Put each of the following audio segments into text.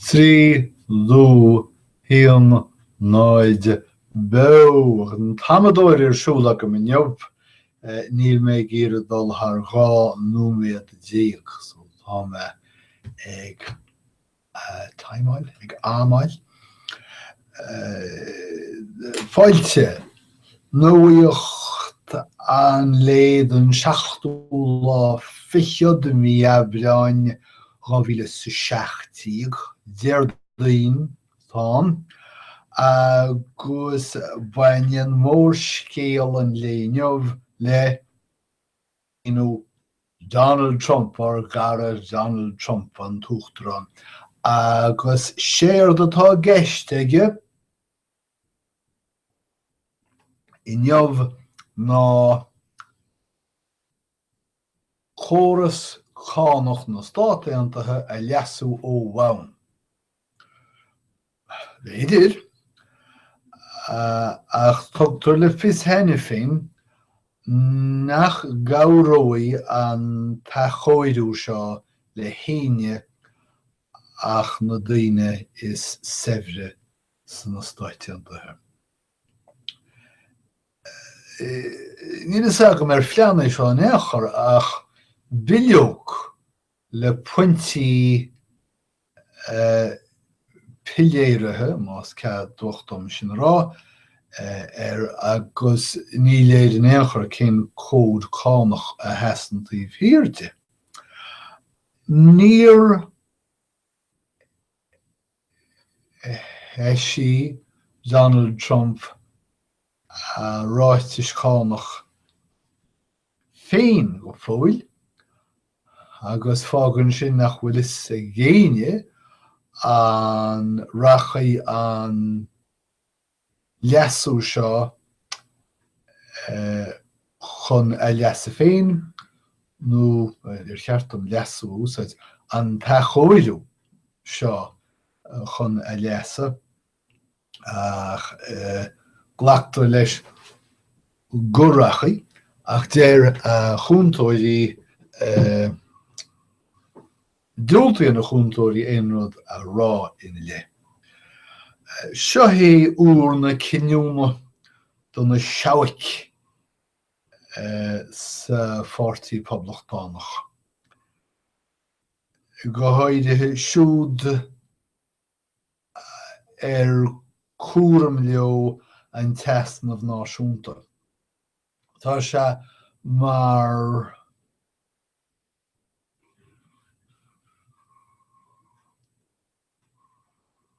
Trí dó haon náid beo an t-amadóir ar siúl agam inniu, níl mé ag iarraidh dul thar dhá nóiméad déag so tá mé ag timeáil, ag amáil. Fáilte. Nuacht an lae don seachtú lá fichead de mhí Aibreáin 2017, Déardaoin, atá ann, agus baineann mórscéal an lae inniu le. Donald Trump, ár gcara Donald Trump, an tUachtarán, agus séard atá i gceist aige inniu ná córas cánach na Stát Aontaithe a leasú ó bhonn. B'fhéidir, ach tugtar le fios cheana féin nach gcabhróidh an t-athchóiriú seo le héinne ach na daoine is saibhre sna Stáit Aontaithe. Níl a fhios agam ar phlean é seo in aon chor, ach bileog le pointí piléaraithe, más ceadmhach dom sin a rá, air agus ní léir in aon chor cén cód cánach a sheasann taobh thiar de. Níor. eisigh Donald Trump a ráitis chánach féin go fóill, agus fágann sin nach bhfuil fhios ag éinne an rachaidh an. leasú seo chun a leasa féin nó ar cheart dom leasú a úsáid an t-athchóiriú seo chun a leasa ach glactar leis go rachaidh ach deir a chúntóirí Diúltaíonn a chúntóirí aon rud a rá ina leith. Seo é uair na cinniúna do na seabhaic sa Pháirtí Poblachtánach, go háirithe siúd ar cúram leo an t-easnamh náisiúnta. Tá sé mar.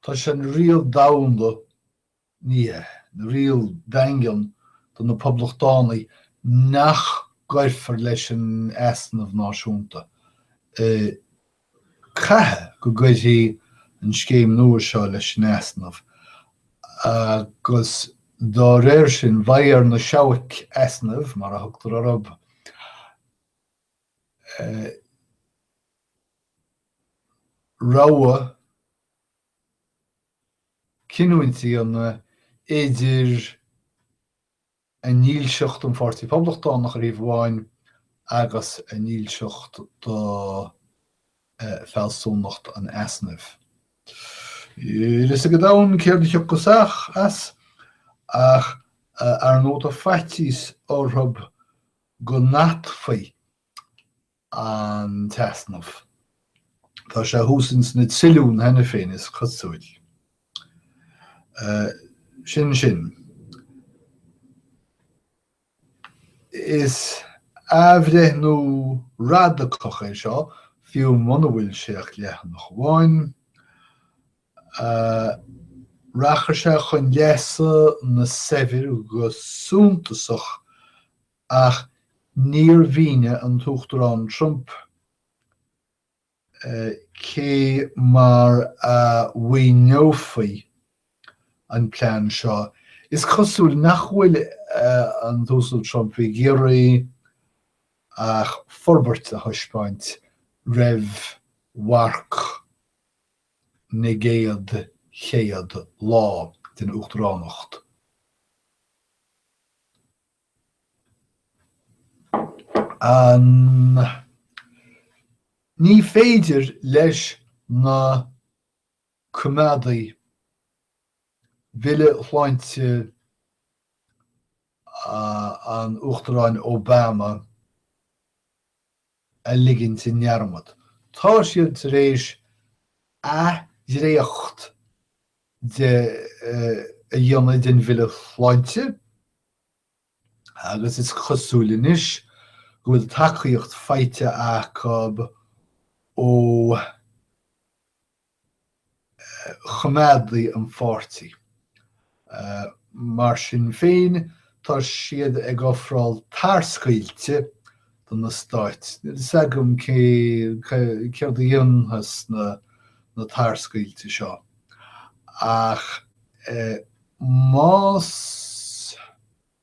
Tá sé ina riail domhsa, ní ina riail daingean do na poblachtánaigh nach gcuirfear leis an easnamh náisiúnta. Caithfidh go gcuirfí an scéim nua seo leis an easnamh agus dá réir sin beidh ar na seabhaic easnaimh, mar a thugtar orthu, rogha chinniúnach a dhéanamh idir a ndílseacht don Pháirtí Phoblachtánach ar thaobh amháin agus a ndílseacht do fhealsúnacht an easnaimh. Níl a fhios ag an domhan céard a thiocfas as, ach ar ndóigh tá faitíos orthu go n-atfaí an t-easnamh. Tá sé thuas ins na trilliúin cheana féin, is cosúil. Sin sin. Is athbhreithniú radacach é seo, fiú muna bhfuil sé ach leathanach amháin. Rachadh sé chun leasa na saibhir go suntasach ach níor mhínigh an tUachtarán Trump cé mar a mhaoineofaí an plean seo. Is cosúil nach bhfuil an tUasal Trump ag iarraidh ach forbairt a thaispeáint roimh mharc. na gcéad chéad lá den Uachtaránacht. Ní féidir leis na Coimeádaigh Bille Sláinte an Uachtaráin Obama, a ligint i ndearmad, tá siad tar éis athdhréacht de a dhéanamh den Bhille Sláinte agus is cosúil anois go bhfuil tacaíocht faighte acu ó. choimeádaigh an pháirtí. Mar sin féin, tá siad ag ofráil tarscaoilte do na stáit. Níl a fhios agam céard a dhéanfas na tarscaoilte seo, ach más.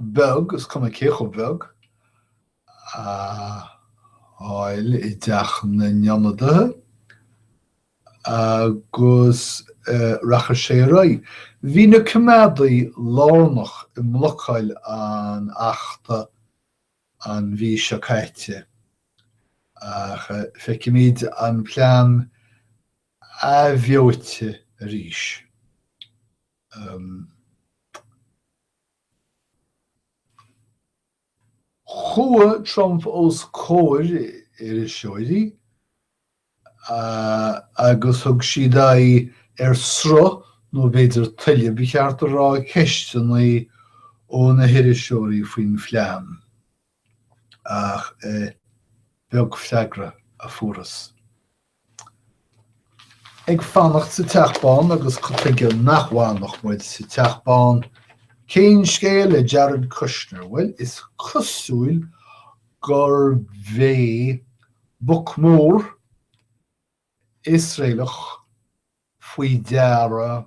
beag, is cuma cé chomh beag, a fháil i dteach na n-ionadaithe agus rachadh sé ar aghaidh. Bhí na Coimeádaithe lárnach i mblocáil an Achta an mhí seo caite ach feicimid an plean athbheoite arís. Chuaigh Trump os comhair iriseoirí agus thug siad aghaidh ar sruth, nó b'fhéidir tuile, ba cheart a rá, ceisteanna ó na hiriseoirí faoin phlean. ach beag freagra a fuarthas. Ag fanacht sa Teach Bán agus cad chuige nach bhfanfadh muid sa Teach Bán? Cén scéal le Jared Kushner? Bhuel, is cosúil gurb é boc mór Iosraelach faoi deara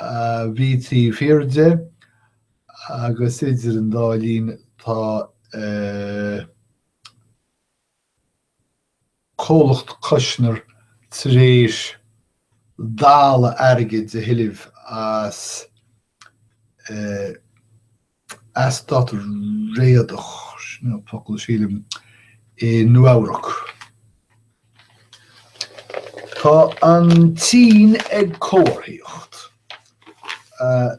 a bhí taobh thiar de, agus idir an dá linn tá comhlacht Kushner tar éis dalladh airgid a thuilleamh as eastát réadach, sin an focal, sílim, i Nua-Eabhrac. Tá an tSín ag comharthaíocht.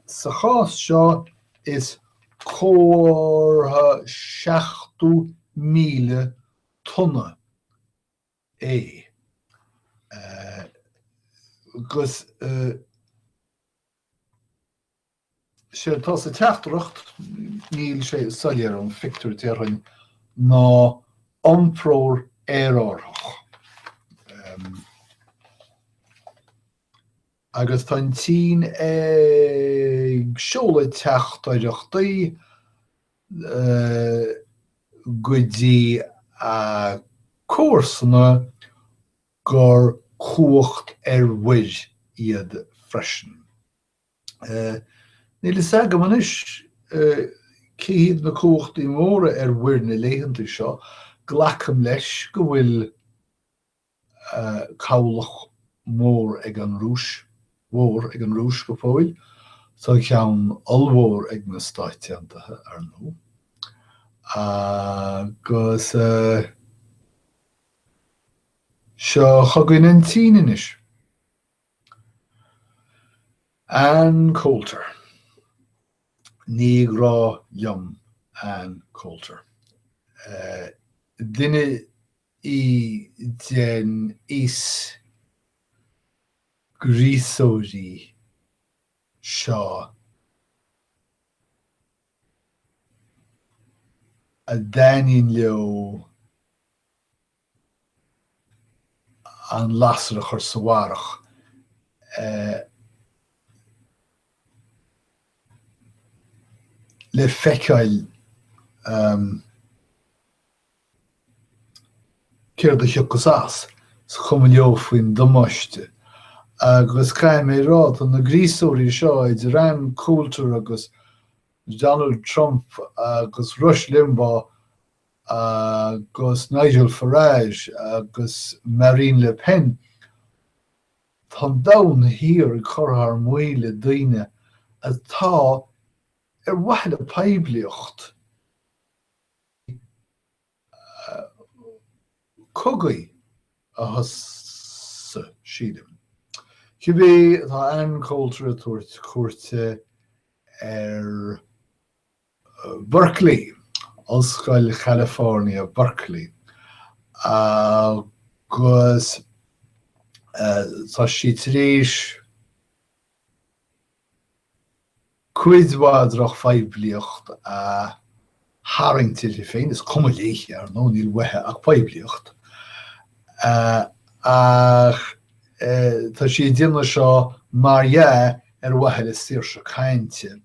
Sa chás seo, is comhartha 70,000 tonna é, agus. sé atá sa teachtaireacht, níl sé soiléir ón phictiúr, déarfainn, ná iompróir aerárthach. Agus tá an tSín ag seoladh teachtaireachtaí go dtí a comharsana gur cumhacht ar mhuir iad freisin. Níl a fhios agam anois cé hiad na cumhachtaí móra ar mhuir na laethanta seo, glacaim leis go bhfuil cabhlach mór ag an Rúis, mhór ag an Rúis go fóill, tá ceann ollmhór ag na Stáit Aontaithe, ar ndóigh, agus seo chugainn an tSín anois. Ann Coulter. Ní grá liom Ann Coulter. Duine í den aos gríosóirí seo a dtaitníonn leo an lasair a chur sa bharrach le feiceáil céard a thiocfas as, is cuma leo faoin damáiste. Agus caithfidh mé a rá, tá na gríosóirí seo, idir Ann Coulter agus Donald Trump agus Rush Limbaugh agus Nigel Farage agus Marine Le Pen, tá an domhan thiar ag cur thar maoil le daoine atá, ar mhaithe le poiblíocht, cogaí a thosú, sílim. Cibé, tá Ann Coulter ag tabhairt cuairte ar. Berkeley, Ollscoil California, Berkeley, agus tá sí tar éis cuid mhaith drochphoiblíocht a tharraingt uirthi féin, is cuma léi, ar ndóigh, níl uaithi ach poiblíocht, ach tá sí ag déanamh seo mar dhea ar mhaithe le saoirse cainte.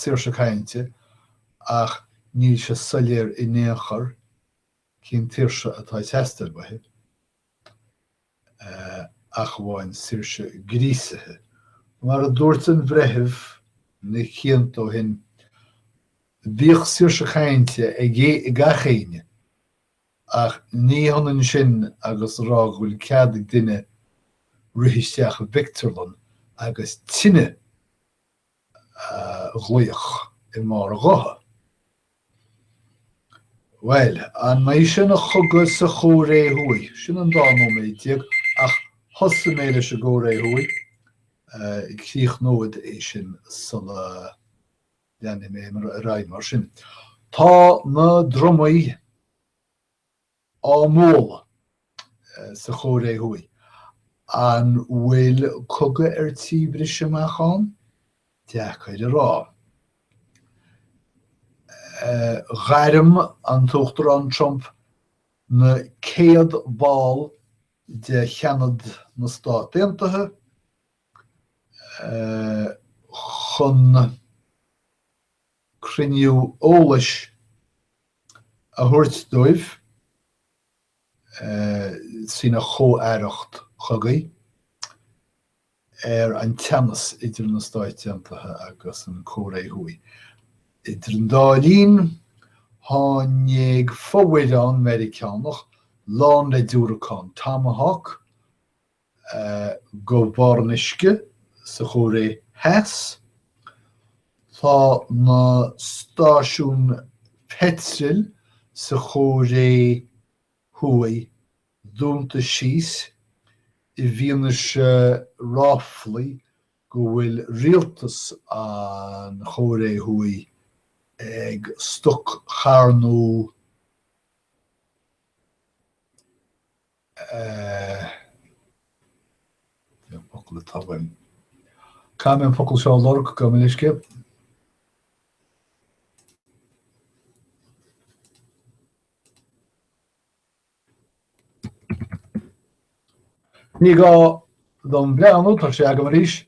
saoirse cainte, ach níl sé soiléir in aon chor cén tsaoirse atá ag teastáil uaithi, ach amháin saoirse gríosaithe. Mar a dúirt an Bhreitheamh na cianta ó shin, Bíodh saoirse cainte ag gach éinne! Ach ní hionann sin agus a rá go bhfuil cead ag duine rith isteach i bpictiúrlann agus tine a ghlaoch i mbarr a ghutha. Bhuel, an mbeidh sé ina chogadh sa Chóiré Thuaidh? Sin an 12 nóiméad, ach thosaigh mé leis an gCóiré Thuaidh, críochnód é sin sula Leanfaidh mé ar aghaidh mar sin. Tá na drumaí á mbualadh sa Chóiré Thuaidh. An bhfuil cogadh ar tí briseadh amach ann? Deacair a rá. Ghairm an tUachtarán Trump na céad ball de Sheanad na Stát Aontaithe chun cruinniú eolais a thabhairt dóibh lena chomh-aireacht chogaidh ar an teannas idir na Stáit Aontaithe agus an Cóiré Thuaidh. Idir an dá linn, tháinig fomhuireán Meiriceánach lán le diúracáin Tomahawk go barr an uisce sa Chóiré Theas. Tá na stáisiúin pheitril sa Chóiré Thuaidh dúnta síos i bhfianaise ráflaí go bhfuil rialtas an Chóiré Thuaidh ag stoc-charnú. Focal atá uaim. Caithfidh mé an focal seo a lorg go minic. Ní gá dom breathnú tá sé agam arís.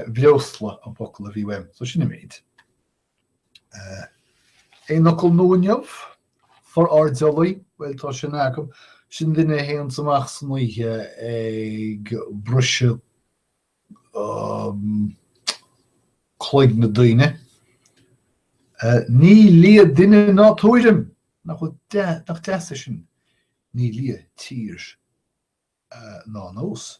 breosla an focal a bhí uaim, so sin an méid. Aon fhocal nua inniu? Forairdeallaí, bhuel tá sin agam, sin duine a théanns amach san oíche ag briseadh cloigne daoine. Ní lia duine ná tuairim! Nach deas é sin? Ní lia tír ná nós.